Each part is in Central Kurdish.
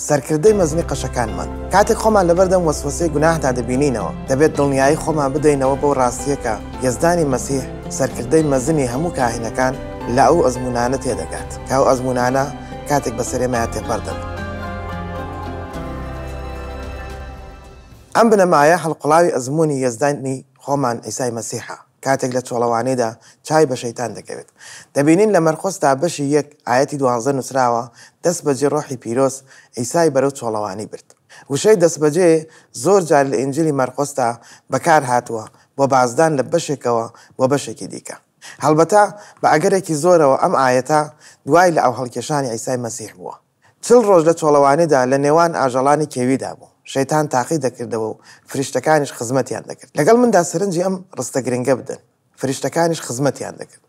سەرکردەی مەزنی قەشەکانمان کاتێک خۆمان لەبەردەم وەسوەسەی گوناهدا دەبینینەوە دەبێت دڵنیایی خۆمان بدەینەوە بەو ڕاستیەکە یەزدانی مەسیح سەرکردەی مەزنی هەموو کاهینەکان لە ئەو ئەزمونانە تێدەگات کە ئەو ئەزمونانە کاتێک بەسەرێمەیان تێپەر دەبن ئەم بنەمایە هەڵقڵاوی ئەزمونی یەزدانی خۆمان عیسای مەسیحە. کاتێک لە چۆڵەوانێدا چاوی بە شەیتان دەکەوێت. دەبینین لە مەرقۆس تا بەشی یەک ئایەتی دوانزە نووسراوە، دەستبەجێ ڕۆحی پیرۆز عیسای بەرەو چۆڵەوانی برد. وشەی دەستبەجێ زۆر جار لە ئینجیلی مەرقۆسدا بەکار هاتووە بۆ بازدان لە بەشێکەوە بۆ بەشێکی دیکە. هەڵبەتە بە ئەگەرێکی زۆرەوە ئەم ئایەتە دوای لە ئاوهەڵکێشانی عیسای مەسیح بووە. چل ڕۆژ لە چۆڵەوانیدا لە نێوان ئاژەڵانی کێویدا بووم، شەیتان تاقی دەکردەوە و فریشتەکانیش خزمەتیان دەکرد. لەگەڵ مندا سەرنجی ئەم ڕستە گرنگە بدەن، فریشتەکانیش خزمەتیان دەکرد.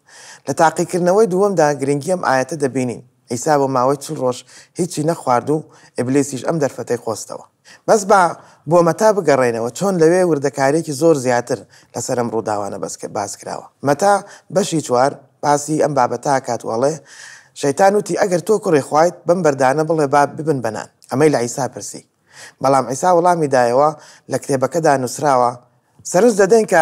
لە تاقیکردنەوەی دووەمدا گرنگی ئەم ئایەتە دەبینین، عیسا بۆ ماوەی چل ڕۆژ هیچی نەخوارد و ئیبلیسیش ئەم دەرفەتەی قۆستەوە. بەس با بۆ مەتا بگەڕێینەوە چۆن لەوێ وردەکاریەکی زۆر زیاتر لەسەر ئەم ڕووداوانە باس کراوە مەتا بەشی چوار باسی ئەم بابەتە ئەکات و ئەڵێ شەیتان وتی ئەگەر تۆ کوڕی خوایت بەم بەردانە بڵێ با ببن بە نان ئەمەی لە عیسا پرسی بەڵام عیسا وڵامی دایەوە لە کتێبەکەدا نووسراوە سەرنج دەدەین کە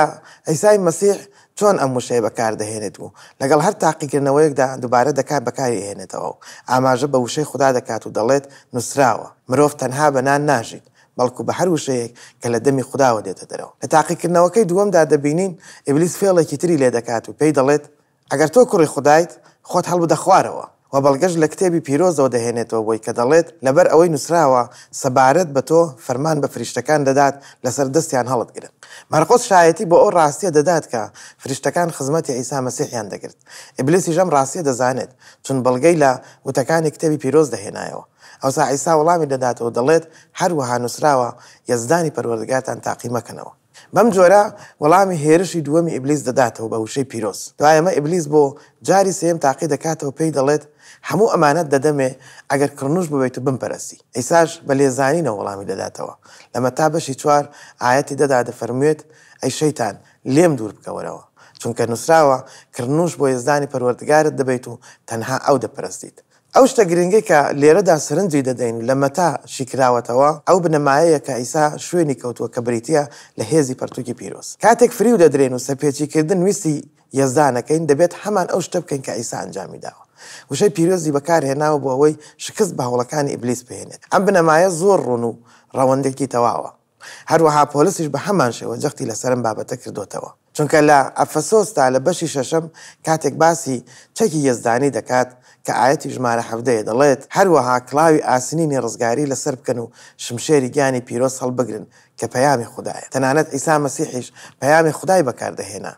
عیسای مەسیح چۆن ئەم وشەیە بەکاردەهێنێت و لەگەڵ هەر تاقیکردنەوەیەکدا دووبارە دەکات بەکاری ئەهێنێتەوە و ئاماژە بە وشەی خودا دەکات و دەڵێت، نووسراوە، مرۆڤ تەنها بە نان ناژیت، بەڵکو بە هەر وشەیەک کە لە دەمی خوداوە دێتە دەرەوە. لە تاقیکردنەوەکەی دووەمدا دەبینین ئیبلیس فێڵێکی تری لێدەکات و پێی دەڵێت، ئەگەر تۆ کوڕی خودایت، خۆت هەڵبدە خوارەوە. وە بەڵگەش لە کتێبی پیرۆزەوە دەهێنێتەوە بۆی کە دەڵێت، لەبەر ئەوەی نوسراوە، سەبارەت بە تۆ، فەرمان بە فریشتەکان دەدات لەسەر دەستیان هەڵتگرن. مارقۆس شایەتی بۆ ئەو ڕاستیە دەدات کە فریشتەکان خزمەتی عیسا مەسیحیان دەگرت. ئیبلیسیش ئەم ڕاستیە دەزانێت، چون بەڵگەی لە وتەکانی کتێبی پیرۆز دەهێنایەوە. ئەوسا عیسا وەڵامی دەداتەوە و دەڵێت، هەروەها نوسراوە، یەزدانی پەروەردگارتان تاقی مەکەنەوە. بەم جۆرە وەڵامی هێرشی دووەمی ئیبلیس دەداتەوە بە وشەی پیرۆز. دوای ئەمە ئیبلیس بۆ جاری سێیەم تاقی دەکاتەوە پێی دەڵێت، هەموو ئەمانەت دەدەمێ ئەگەر کڕنوش ببیت و بمپەرستی. عیساش بە لێزانینەوە وەڵامی دەداتەوە. لە مەتا بەشی چوار ئایەتی دە دا دەفەرموێت، ئەی شەیتان لێم دوور بکەوەرەوە، چونکە نوسراوە، کڕنوش بۆ یەزدانی پەروەردگارت دەبەیت و تەنها ئەو دەپەرستیت. ئەو شتە گرنگەی کە لێرەدا سەرنجی دەدەین لە مەتا شی کراوەتەوە، ئەو بنەمایەیە کە عیسا شوێنی کەوتووە کە بریتییە لە هێزی پەرتووکی پیرۆز. کاتێک فریو دەدرێن و سەرپێچیکردن ویستی یەزدانەکەین، دەبێت هەمان ئەو شتە بکەین کە عیسا ئەنجامی داوە. وشەی پیرۆزی بەکارهێناوە بۆ ئەوەی شکست بە هەوڵەکانی ئیبلیس بهێنێت. ئەم بنەمایە زۆر ڕوون و ڕەوەندێکی تەواوە. هەروەها پۆلسیش بە هەمان شێوە جەختی لەسەر ئەم بابەتە کردۆتەوە، چونکە لە ئەفەسۆسدا لە بەشی شەشەم کاتێک باسی چەکی یەزدانی دەکات کە ئایەتی ژمارە حەڤدە یە دەڵێت، هەروەها کڵاوی ئاسنینی ڕزگاری لەسەر بکەن و شمشێری گیانی پیرۆز هەڵبگرن کە پەیامی خودایە. تەنانەت عیسا مەسیحیش پەیامی خودای بەکاردەهێنا.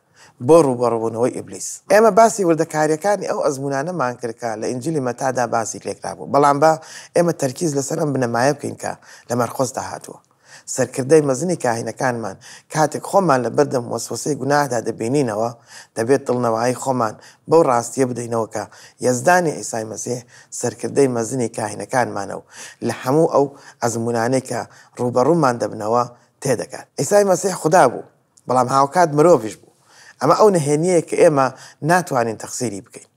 بۆ ڕووبەڕووبوونەوەی ئیبلیس. ئێمە باسی وردەکارییەکانی ئەو ئەزموونانەمان کرد کە لە ئینجیلی مەتادا باسی لێکرابوو، بەڵام با ئێمە تەرکیز لەسەر ئەم بنەمایە بکەین کە لە مەرقۆسدا هاتووە، سەرکردەی مەزنی کاهینەکانمان کاتێک خۆمان لە بەردەم وەسوەسەی گوناهدا دەبینینەوە، دەبێت دڵنەوایی خۆمان بەو ڕاستییە بدەینەوە کە یەزدانی عیسای مەسیح سەرکردەی مەزنی کاهینەکانمانە و لە هەموو ئەو ئەزموونانەی کە ڕووبەڕوومان دەبنەوە تێدەگات. عیسای مەسیح خودا بوو. بەڵام هاوکات مرۆڤیش بوو. ئەمە ئەو نهێنییەیە کە ئێمە ناتوانین تەقسیری بکەین،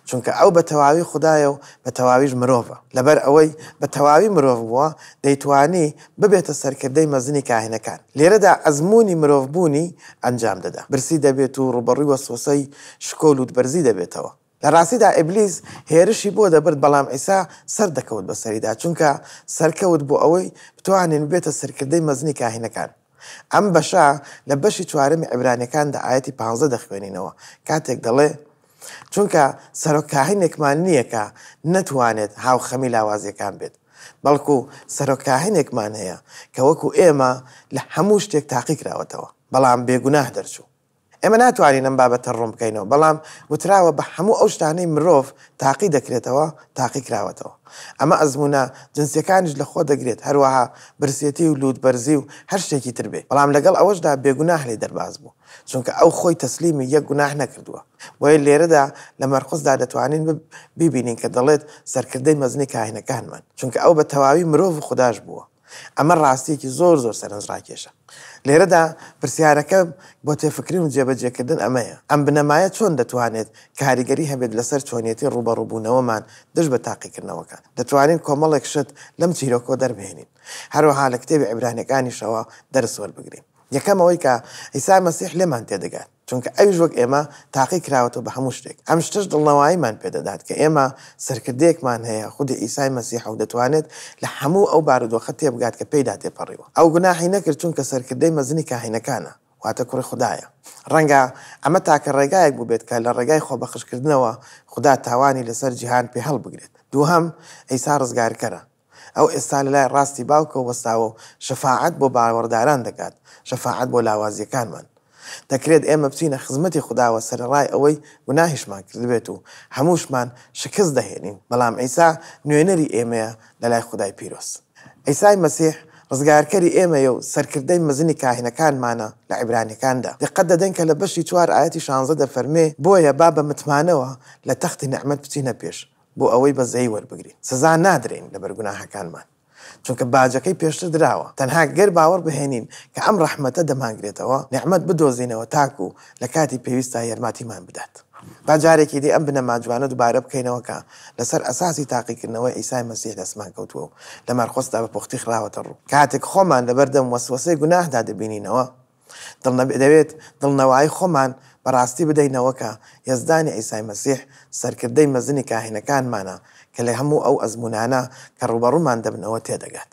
چونکە ئەو بە تەواوی خودایە و بە تەواویش مرۆڤە. لەبەر ئەوەی بە تەواوی مرۆڤ بووە، دەیتوانی ببێتە سەرکردەی مەزنی کاهینەکان. لێرەدا ئەزموونی مرۆڤبوونی ئەنجام دەدا. برسی دەبێت و ڕووبەڕووی وەسوەسەی شکۆ و لووتبەرزی دەبێتەوە. لە ڕاستیدا ئیبلیس هێرشی بۆ دەبرد بەڵام عیسا سەر دەکەوت بەسەریدا چونکە سەرکەوت بۆ ئەوەی بتوانین ببێتە سەرکردەی مەزنی کاهینەکان. ئەم بەشە لە بەشی چوارەمی عیبرانیەکان دە ئایەتی پانزدە دەخوێنینەوە کاتێک دەڵێ چونکە سەرۆک کاهینێکمان نییە کە نەتوانێت هاوخەمی لاوازیەکان بێت بەڵکو سەرۆک کاهینێکمان هەیە کە وەکو ئێمە لە هەموو شتێک تاقی کراوەتەوە بەڵام بێگوناه دەرچوو. ئێمە ناتوانین ئەم بابەتە ڕوون بکەینەوە، بەڵام گوتراوە بە هەموو ئەو شتانەی مرۆڤ تاقی دەکرێتەوە تاقی کراوەتەوە. ئەمە ئەزموونە جنسییەکانیش لە خۆ دەگرێت، هەروەها برسێتی و لووتبەرزی و هەر شتێکی تر بێ، بەڵام لەگەڵ ئەوەشدا بێگوناه لێ دەرباز بوو، چونکە ئەو خۆی تەسلیمی یەک گوناه نەکردووە. بۆیە لێرەدا لە مەرقسدا دەتوانین بیبینین کە دەڵێت سەرکردەی مەزنی کاهینەکانمان، چونکە ئەو بە تەواوی مرۆڤ و خوداش بووە. ئەمە ڕاستییەکی زۆر زۆر سەرنجڕاکێشە. لێرەدا پرسیارەکە بۆ تێفکرین و جێبەجێکردن ئەمەیە، ئەم بنەمایە چۆن دەتوانێت کاریگەری هەبێت لەسەر چۆنیەتی ڕووبەڕووبوونەوەمان دژ بە تاقیکردنەوەکان؟ دەتوانین کۆمەڵێک شت لەم چیرۆکەوە دەربهێنین، هەروەها لە کتێبی عیبرانیەکانیشەوە دەرس وەربگرین. یەکەم ئەوەی کە عیسای مەسیح لێمان تێدەگات. چونکە ئەویش وەک ئێمە تاقی کراوەتەوە بە هەموو شتێک، ئەم شتەش دڵنەواییمان پێ دەدات کە ئێمە سەرکردەیەکمان هەیە، خودی عیسای مەسیحە و دەتوانێت لە هەموو ئەو بارودۆخە تێبگات کە پێیدا تێپەڕیوە. ئەو گوناحی نەکرد چونکە سەرکردەی مەزنی کاهینەکانە، واتە کوڕی خودایە. ڕەنگە ئەمە تاکە ڕێگایەک بووبێت کە لە ڕێگای خۆبەخشکردنەوە خودا تاوانی لەسەر جیهان پێهەڵبگرێت. دووهەم، عیسا ڕزگارکەرە. ئەو ئێستا لە لای ڕاستی باوکەوە وەستاوە و شەفاعەت بۆ باوەڕداران دەکات، شەفاعەت بۆ لاوازییەکانمان. دەکرێت ئێمە بچینە خزمەتی خوداوە سەرەڕای ئەوەی گوناهیشمان کردبێت و هەمووشمان شکست دەهێنین، بەڵام عیسا نوێنەری ئێمەیە لە لای خودای پیرۆز. عیسای مەسیح ڕزگارکەری ئێمەیە و سەرکردەی مەزنی کاهینەکانمانە لە عیبرانیەکاندا. دیقەت دەدەین کە لە بەشی چوار ئایەتی شانزە دەفەرمێ، بۆیە با بە متمانەوە لە تەختی نیعمەت بچینە پێش، بۆ ئەوەی بەزەیی وەربگرین سزا نادرێین لەبەر گوناهەکانمان چونکە باجەکەی پێشتر دراوە تەنها گەر باوەڕ بهێنین کە ئەم ڕەحمەتە دەمانگرێتەوە نیعمەت بدۆزینەوە تاکو لە کاتی پێویستدا یەرماتیمان بدات با جارێکی دی ئەم بنەما جوانە دوبارە بکەینەوە کە لەسەر ئەساسی تاقیکردنەوەی عیسای مەسیح دەستمان کەوتووە و لە مەرقسدا بە پوختی خراوەتە ڕوو کاتێک خۆمان لەبەردەم وەسوەسەی گوناهدا دەبینینەوە دەوێت دڵنەوایی خۆمان بە ڕاستی بدەینەوە کە یەزدانی عیسای مەسیح سەرکردەی مەزنی کاهینەکانمانە کە لە هەموو ئەو ئەزموونانە کە ڕووبەڕوومان دەبنەوە تێدەگات.